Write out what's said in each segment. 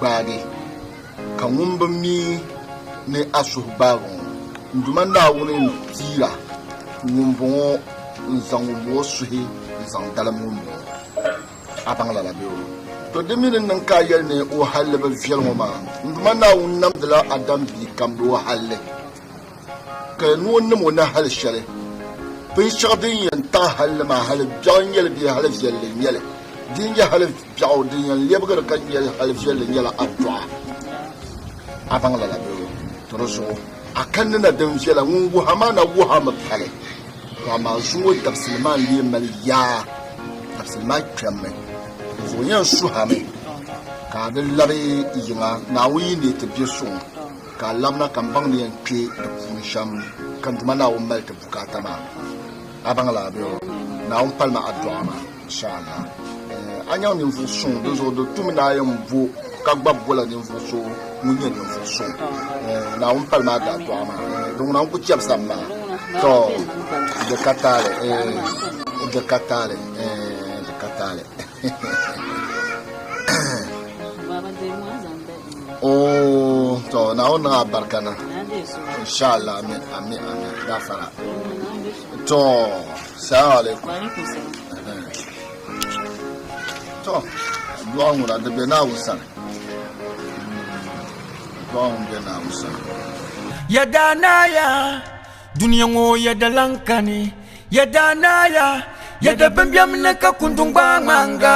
gbaagi, ka ŋun bi mi ni a suhu gbaagi ŋɔ, n Duuma Naawuni ni piira ŋumbɔŋɔ n-zaŋ ŋumbɔŋɔ suhi n-zaŋ dalim ŋumbɔŋɔ. A baŋ lala bee? Tɔ! Di mi ni niŋ ka a yɛli ni wahalli bi viɛl ŋɔ maa, n Duuma Naawuni namdila Adam bia kam ni wahalli. Ka ni o nam o ni hali shɛli. Binshɛɣu din yɛn taɣi hali li maa, hali biɛɣu n-nyɛ li bee hali viɛlli n-nyɛ li? Di ni nyɛ hali biɛɣu, din yɛn lɛbigiri ka nyɛ hali viɛlli nyɛla adɔɣa. A baŋ lala bee? Ti di zuɣu a kanni na din viɛla ŋun wuhi a maa na wuhi a mi pali, ka amaa zuŋɔ dabisili maa n-lee mali yaa, dabisili maa kpɛmmi. Di zuɣu yɛn suhi a mi ka a di labi yiŋa, Naawuni yi neei ti bɛ suŋ. Ka a labina ka m baŋ ni yɛn kpe di puuni shɛm ka n Duuma Naawuni mali ti bukaata maa. A baŋ lala bɛ? Naawuni pali ma adduɣa maa, inshaallah. A nyaŋ ninvuɣ suŋ, dinzuɣu di tumi ni a yɛn bo ka gbabi bola ninvuɣ so ŋun nyɛ ninvuɣ suŋ. Naawuni pali ma adduɣa maa. Di ŋuna n ku chɛbisam maa. Tɔɔ, di ka taali, di ka taali, di ka taali. Oh, to Naawuni niŋ abarika na. Inshallah, amin, amin, amin. Gafara. To, salamu alaikum. To, du'a ŋuna di be Naawuni sani. Du'a ŋun be Naawuni sani. Yɛda naaya duniya ŋɔ yɛda lan kani yɛda naaya yɛda bimbiɛm ni ka kundun gbaai ŋmanga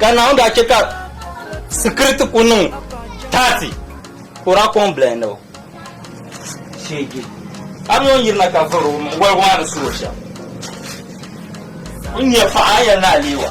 Ka Naawuni daa chɛ ka sikiriti ku niŋ taati ka o daa kɔŋ bilahi ni o sheegi Abiyon yiri na ka vuri o mini wɔligu maa ni su o shɛm. N nya paɣa a yɛn ni aleewa.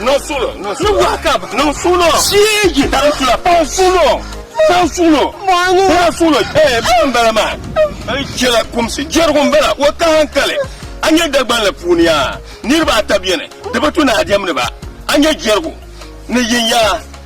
Niŋ suɣulo, niŋ suɣulo. Ni wahi ka bɛ. Niŋ suɣulo. Shiigi. Ka di sula. Paŋ suɣulo. Paŋ suɣulo. Mɔɣini. Paŋ suɣulo. Eeh, bɛla m-bala maa. N chɛla kumsi. Jɛrigu m-bala. O ka hankali. A nya Dagban la puuni yaa, niriba ata beni, di bi tu ni a diɛmdi ba. A nya jɛrigu ni yiŋ yaa.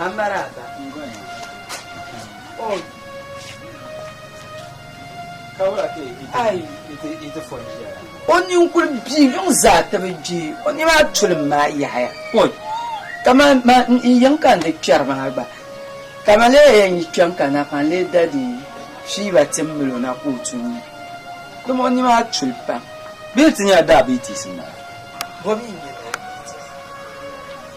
Amaraaba. Oh. Ayi. O ninkul bia yuŋ zaa ti bi gbi o ni maa tulim maa yahaya. Oi. Kaman ma n yiŋ ka n di kpɛri maa gba. Ka ma lee yɛn yi kpɛm ka na ka n lee dadi fiiba tim mil o na ka o tu n ni. Dama o ni maa tuli pam. Bee ti nyɛla diabetes n-bala? Bɔ mi n-nyɛ diabetes.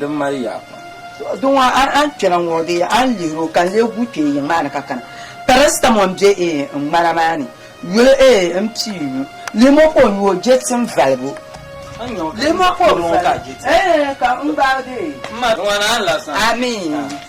din mali yaa pam. Di ŋɔ a ni kpɛna ŋɔ di a ni lihiri o ka n lee guui kpee yiŋ maa ni ka kana. Paracetamol m-be n ŋmana maa ni yuli m pii nyu. Limokol nyu o jɛti n valibu. Limokol valibu eeh ka n gbaai dee. M ma di ŋɔ ni a ni lahi saɣim. Amii.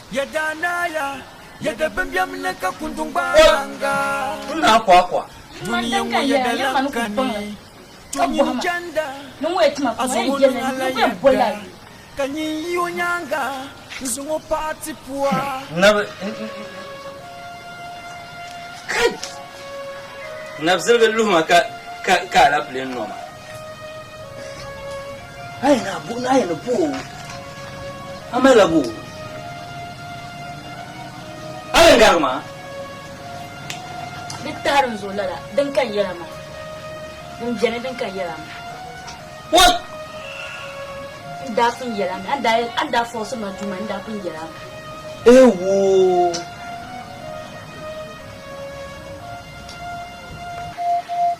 Ya daa naaya, ya da bimbiɛm ni ka kunduŋ gbaai baŋga. Kul ni akwaakwa. Dunia ŋɔ ya da lan kani, to nyini chanda, a zaŋ o niŋ a la yɛda, ka nyin yi o nyaaŋa n-zaŋ o paɣ a ti pua. Nabi, kai! Nabi ziligi luhi ma ka ka alapile nɔ ma. A yɛn a bu a yɛn ni bu o a mali la bu o a yɛn garigi maa di tahi din zuɣu lala din kan yɛla maa din bɛni din kan yɛla maa what n daa pun yɛla mi a ni daa yɛl- a ni daa fɔɣisi ma duu maa n daa pun yɛla mi ewo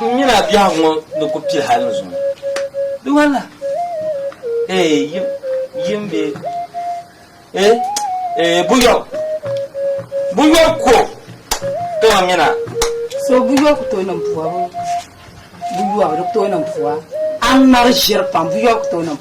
N nyina biɛhigu ŋɔ ni ku pili hali ni zuŋɔ. Di wala? Ee, yim, yim bee? Ee, ee, buyɔbu. Buyɔbu ku o tooi nyina. So buyɔbu ku tooi niŋ buyɔbu, buyɔbu di ku tooi niŋ buwa. A mali ʒiri pam, buyɔbu ku tooi niŋ.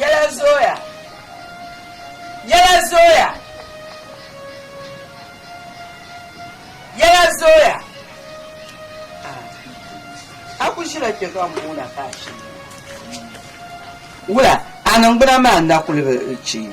Yɛla zooya. Yɛla zooya. Yɛla zooya. A ku ʒila kpe ka m boona ka a shiri. Wula, a niŋgbuna maa n-na kuli bi chɛ yi.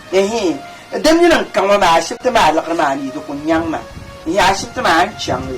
Ɛhɛɛ! Di mini n ka ŋɔ maa ashibiti maa liɣiri maa mi di ku nyaŋ ma. Ɛhɛɛ ashibiti maa a ni chaŋ li?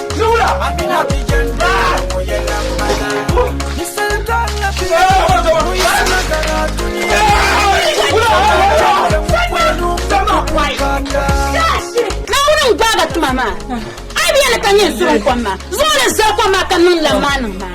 Naawuni n-gbaag a tuma maa. A yi bi yɛli ka nyini suri n-kom maa, zuɣuri zali kom maa ka niŋ laŋmaaniŋ maa.